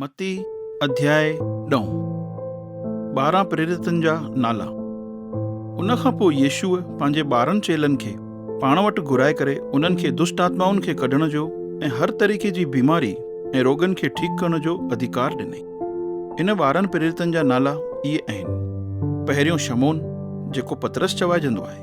متي اڌياء ڏهون ٻارهن پريرتن جا نالا ان کان پوء يسوع پنهنجي ٻارهن چيلن کي پاڻ وٽ گهرائي ڪري انهن کي دشٽ آتمائن کي ڪڍڻ جو ۽ هر طريقي جي بيماري ۽ روڳن کي ٺيڪ ڪرڻ جو اڌڪار ڏنائين. ان ٻارهن پريرتن جا نالا اهي اهن، پهريون شمعون جيڪو پطرس چوائجندو آهي.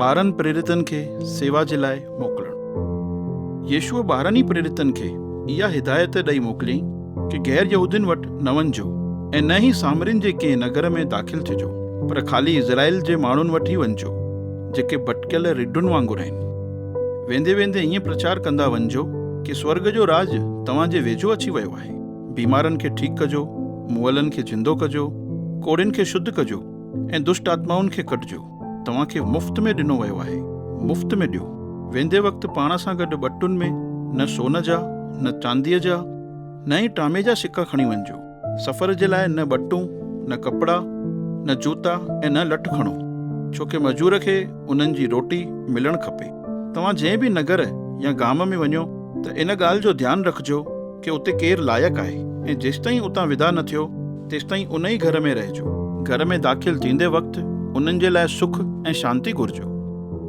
ٻارهن پريرتن کي سيوا جي لاء موڪلڻ. يسوع ٻارهن ئي پريرتن کي اها هدايت ڏئي موڪليائين ڪي غير يهودين وٽ نه وڃجو ۽ نه ئي سامرين جي ڪنهن نگر ۾ داخل ٿجو پر خالي اسرائيل جي ماڻهن وٽ ئي وڃجو جيڪي ڀٽڪيل رڍن وانگر آهن. ويندي ويندي ائين پرچار ڪندا وڃجو ڪي سورڳ جو راڄ توهان جي ويجهو اچي ويو آهي. بيمارن کي ٺيڪ ڪجو، مئلن کي زندو ڪجو، ڪوڙهين کي شڌ ڪجو ۽ دشٽ آتمائن کي ڪڍجو. توهان کي مفت ۾ ڏنو ويو آهي، مفت ۾ ڏيو. ويندي وقت پاڻ سان گڏ ٻٽن ۾ نه سون جا، نه چانديء جا، نه ئي ٽامي جا سڪا کڻي وڃجو. سفر جي لاء نه ٻٽون، نه ڪپڙا، نه جوتا ۽ نه لٺ کڻو، ڇو ڪي مزور کي انهن جي روٽي ملڻ کپي. توهان جنهن به نگر يا گام ۾ وڃو ته ان ڳالهه جو ڌيان رکجو کي اتي ڪير لائق آهي ۽ جيستائين اتان ودا نه ٿيو تيستائين ان ئي گهر ۾ رهجو. گهر ۾ داخل ٿيندي وقت انهن جي لاء سک ۽ شانتي گهرجو.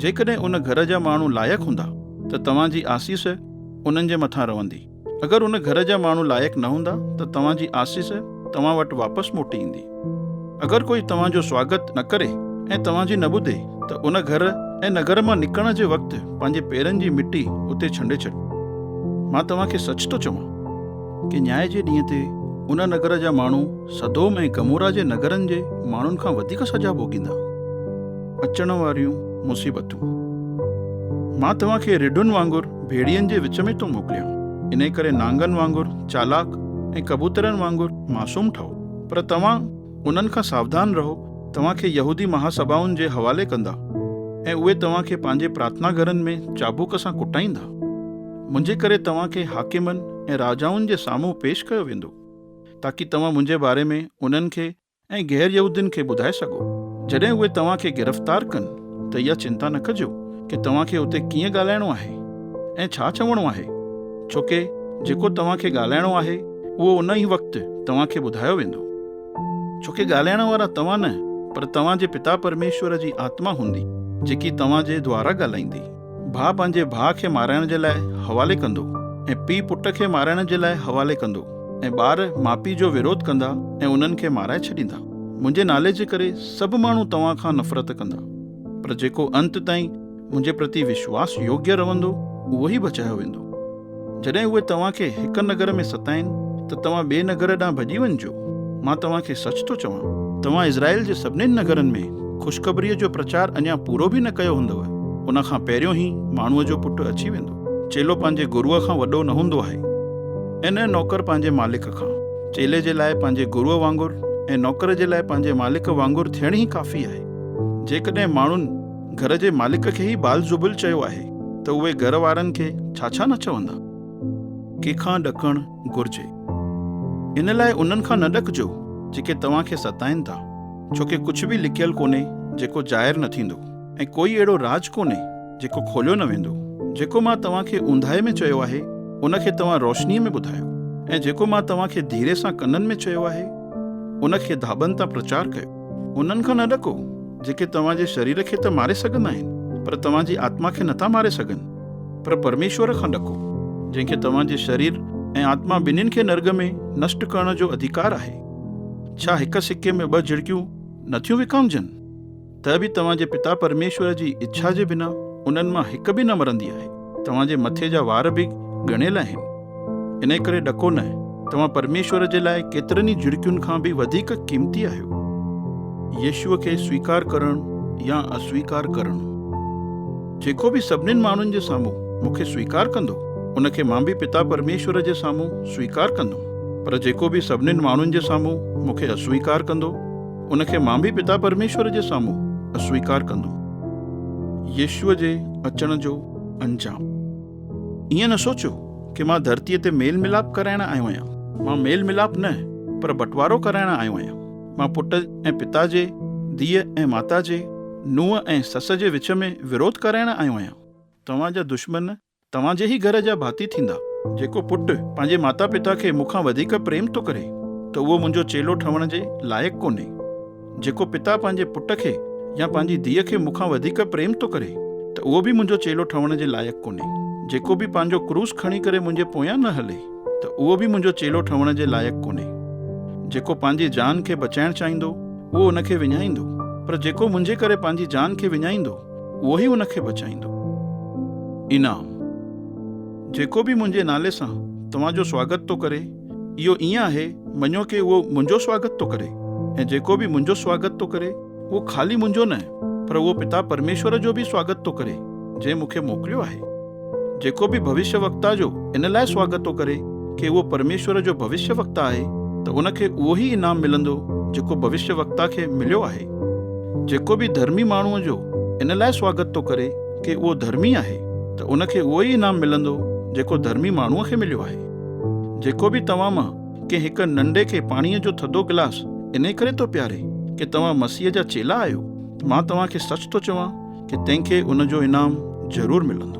جيڪڏهن ان گهر جا ماڻهو لائق هوندا ته توهان جي آسيس انهن جي مٿان رهندي. اگر ان گهر جا ماڻهو لائق نه هوندا ته توهان جي آسيس توهان وٽ واپس موٽي ايندي. اگر ڪوئي توهان جو سواگت نه ڪري ۽ توهان جي نه ٻڌي ته ان گهر ۽ نگر مان نڪرڻ جي وقت پنهنجي پيرن جي مٽي اتي ڇنڊي ڇڏ. مان توهان کي سچ ٿو چوان ڪي نياء جي ڏينهن تي ان نگر جا ماڻهو سدوم ۽ گمورا جي نگرن جي ماڻهن کان وڌيڪ سزا ڀوڳيندا. اچڻ واريون مصيبتون. مان توهان کي رڍن وانگر ڀيڙين جي وچ ۾ ٿو موڪليان، انهيء ڪري نانگن وانگر چالاڪ ۽ ڪبوترن وانگر معصوم ٺهو. پر توهان انهن کان ساوڌان رهو، توهان کي يهودي مهاسڀائن جي حوالي ڪندا ۽ اهي توهان کي پنهنجي پرارٿنا گهرن ۾ چابوڪ سان ڪٽائيندا. منهنجي ڪري توهان کي حاڪمن ۽ راجائن جي سامهون پيش ڪيو ويندو، تاڪي توهان منهنجي باري ۾ انهن کي ۽ غير يهودين کي ٻڌائي سگهو. جڏهن اهي توهان کي گرفتار ڪن ته اها چنتا نه ڪجو ڪي توهان کي اتي ڪيئن ڳالهائڻو آهي ۽ ڇا چوڻو آهي، ڇوڪي جيڪو توهان کي ڳالهائڻو آهي، اهو ان ئي وقت توهان کي ٻڌايو ويندو. ڇو ڪي ڳالهائڻ وارا توهان نه پر توهان جي پتا پرميشور جي آتما هوندي جيڪي توهان جي دوارا ڳالهائيندي. ڀاء پنهنجي ڀاء کي مارائڻ جي لاء حوالي ڪندو ۽ پيء پٽ کي مارائڻ جي لاء حوالي ڪندو ۽ ٻار ماء پيء جو وروڌ ڪندا ۽ انهن کي مارائي ڇڏيندا. منهنجي نالي جي ڪري سڀ ماڻهو توهان کان نفرت ڪندا پر جيڪو انت تائين منهنجي پرتي وشواس يوگيه رهندو اهو ئي بچايو ويندو. جڏهن اهي توهان کي هڪ نگر ۾ ستائين ته توهان ٻئي نگر ڏانهن ڀڄي وڃجو. مان توهان کي سچ ٿو چوان. توهان اسرائيل جي سڀني نگرن ۾ خوشخبريء جو پرچار اڃا پورو به نه ڪيو هوندو، ان کان پهريون ئي ماڻهوء جو پٽ اچي ويندو. چيلو پنهنجي گروء کان وڏو نه هوندو آهي، ۽ نه نوڪر پنهنجي مالڪ کان. چيلي جي لاء پنهنجي گروء وانگر ۽ نوڪر جي لاء پنهنجي مالڪ وانگر ٿيڻ ئي ڪافي آهي. جيڪڏهن ماڻهن. گهر جي مالڪ کي ئي بال زبل چيو آهي ته اهي گهر وارن کي ڇا ڇا نه چوندا. ڪنهن کان ڏڪڻ گهرجي ان لاء انهن کان نه ڏڪجو جيڪي توهان کي ستائين ٿا ڇو ڪي ڪجهه به لڪيل ڪونهي جيڪو ظاهر نه ٿيندو ۽ ڪوئي اهڙو راز ڪونهي جيڪو کوليو نه ويندو جيڪو مان توهان کي اونداهي ۾ چيو آهي ان کي توهان روشنيء ۾ ٻڌايو ۽ جيڪو مان توهان کي ڌيري سان ڪنن ۾ چيو آهي ان کي ڌاٻن تان پرچار ڪيو. انهن کان نه ڏڪو، جيڪي توهان جي شرير کي ته ماري سگهندا آهن، پر توهان جي آتما کي نٿا ماري سگهن. پر پرميشور کان ڏڪو، جنهن کي توهان جي شرير ۽ آتما ٻنهين کي نرڳ ۾ نشٽ ڪرڻ جو اڌيڪار آهي. ڇا هڪ سڪي ۾ ٻه جهڙڪيون نه ٿيون وڪامجن؟ ته به توهان جي پتا پرميشور جي اڇا جي بنا انهن مان هڪ به نه مرندي آهي. توهان جي مٿي جا وار به ڳڻيل آهن. انهيء ڪري ڏڪو نه، توهان پرميشور جي لاء ڪيترن ئي جهڙڪين کان به وڌيڪ قيمتي آهيو. يسوع کي سويڪار ڪرڻ يا اسويڪار ڪرڻ. جيڪو به سڀني ماڻهن جي سامهون مون کي سويڪار ڪندو، ان کي مان به پتا پرميشور جي سامهون سويڪار ڪندم. پر جيڪو به سڀني ماڻهن جي سامهون مون کي اسويڪار ڪندو، ان کي مان به پتا پرميشور جي سامهون اسويڪار ڪندم. يسوع جي اچڻ جو انجام. ائين نه سوچيو ڪي مان ڌرتيء تي ميل ملاپ ڪرائڻ آيو آهيان. مان ميل ملاپ نه پر بٽوارو ڪرائڻ آيو آهيان. مان پٽ ۽ پتا جي، ڌيء ۽ ماتا جي، نونهن ۽ سس جي وچ ۾ وروڌ ڪرائڻ آيو آهيان. توهان جا دشمن توهان جي ئي گهر جا ڀاتي ٿيندا. جيڪو پٽ پنهنجي ماتا پتا کي مون کان وڌيڪ پريم ٿو ڪري ته اهو منهنجو چيلو ٺهڻ جي لائق ڪونهي. جيڪو پتا پنهنجي پٽ کي يا پنهنجي ڌيء کي مون کان وڌيڪ پريم ٿو ڪري ته اهو به منهنجو چيلو ٺهڻ جي لائق ڪونهي. جيڪو به پنهنجو ڪروس کڻي ڪري منهنجي پويان نه هلي ته اهو به منهنجو چيلو ٺهڻ جي لائق ڪونهي. جيڪو پنهنجي جان کي بچائڻ چاهيندو اهو ان کي وڃائيندو پر جيڪو منهنجي ڪري پنهنجي جان کي وڃائيندو اهو ئي ان کي بچائيندو. انعام، جيڪو به منهنجي نالي سان توهان جو سواگت ٿو ڪري، اهو ائين آهي مڃيو ڪي اهو منهنجو سواگت ٿو ڪري ۽ جيڪو به منهنجو سواگت ٿو ڪري، اهو خالي منهنجو نه پر اهو پتا پرميشور جو به سواگت ٿو ڪري جنهن مون کي موڪليو آهي. جيڪو به ڀوشيه وڪتا جو ان لاء سواگت ٿو ڪري ڪي اهو پرميشور جو ڀوشيه وڪتا آهي ته ان کي اهو ئي انعام ملندو جيڪو ڀوشيه وڪتا کي مليو آهي. جيڪو به ڌرمي ماڻهوء جو ان لاء سواگت ٿو ڪري ڪي اهو ڌرمي آهي ته ان کي اهو ئي انعام ملندو جيڪو ڌرمي ماڻهوء کي مليو آهي. جيڪو به توهان مان ڪنهن هڪ ننڍي کي پاڻيء جو ٿڌو گلاس انهي ڪري ٿو پياري ڪي توهان مسيح جا چيلا آهيو. مان توهان کي سچ ٿو چوان ڪي تنهن کي ان جو انعام ضرور ملندو.